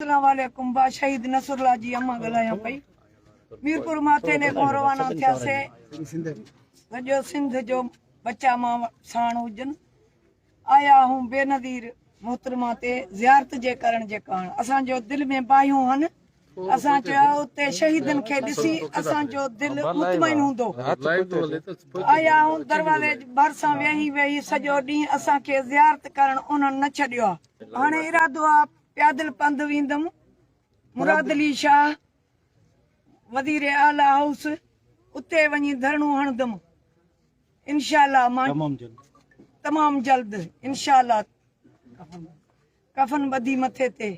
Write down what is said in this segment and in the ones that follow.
اسلام عليڪم با شهيد نصر الله جي امان ڳالهايان پئي ميرپور ماٿيلي کان روانا ٿياسي سڄو سنڌ جو بچا مان ساڻ هجن آيا هون بي نظير محترمه تي زيارت جي ڪرڻ جي ڪاڻ اسان جو دل ۾ باهيون هن اسان چيو اتي شهيدن کي ڏسي اسان جو دل مطمئن هوندو آيا هون دروازي ڀرسان ويهي ويهي سڄو ڏينهن اسان کي زيارت ڪرڻ انهن نه ڇڏيو آ هاڻي ارادو آ پيادل پنڌ ويندم، مراد علي شاهه وزير اعليٰ هائوس اتي وڃي ڌرڻو هڻندم انشاء الله مان تمام جلد انشاء الله ڪفن ٻڌي مٿي تي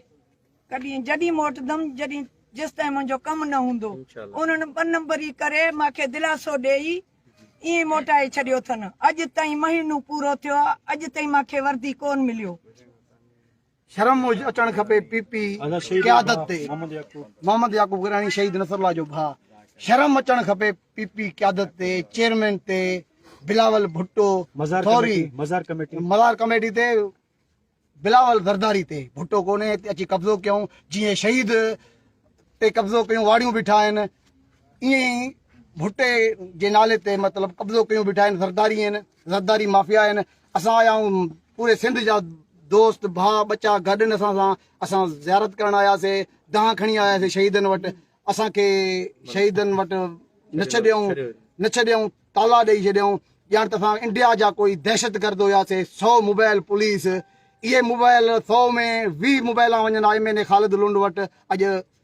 ڪڏهن جڏهن موٽدم جڏهن جيستائين منهنجو ڪم نه هوندو انهن ٻه نمبري ڪري مان کي دلاسو ڏيئي ائين موٽائي ڇڏيو اٿن اڄ تائين مهينو پورو ٿيو اڄ تائين مان کي وردي ڪون مليو شرم هج اچڻ کپي پي پي قيادت تي محمد يعقوب گراني شهيد نصر الله جو ڀاء شرم اچڻ کپي پي پي قيادت تي چيئرمين تي بلاول ڀٽو ٿوري مزار ڪميٽي مزار ڪميٽي تي بلاول زرداري تي ڀٽو ڪوني اچي قبضو ڪيون جي شهيد تي قبضو ڪيون واڙيون بيٺا آهن ائين ڀٽي جي نالي تي مطلب قبضو ڪيون بيٺا آهن زرداري آهن زرداري مافيا آهن اسان آيا آهيون پوري سنڌ جا دوست ڀاء ٻچا گڏ ان اسان سان اسان زيارت ڪرڻ آياسي دانهن کڻي آياسي شهيدن وٽ اسان کي شهيدن وٽ نه ڇڏيائون نه ڇڏيائون تالا ڏيئي ڇڏيائون ڄاڻ ته اسان انڊيا جا ڪوئي دهشت گرد هياسي سو موبائل پوليس اهي موبائل سو ۾ ويهه موبائل وڃن آء M N A Khalid Lund وٽ اڄ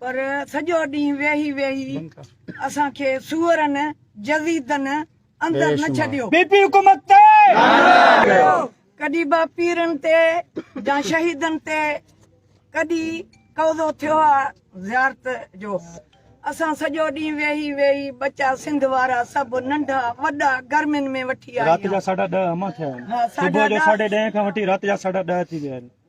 پر سڄو ڏينهن ويهي ويهي اسان کي سوئرن جزيدن اندر نه ڇڏيو. پي پي حڪومت تي نعرا ڪيو. ڪڏي با پيرن تي جا شهيدن تي ڪڏي قوضو ٿيو آ زيارت جو اسان سڄو ڏينهن ويهي ويهي ٻچا سنڌ وارا سڀ ننڍا وڏا گرمين ۾ وٺي آئي آ. رات جا ساڍا ڏهه اما ٿيا آهن صبح جو ساڍي ڏهين کان وٺي رات جا ساڍا ڏهه ٿي ويا آهن.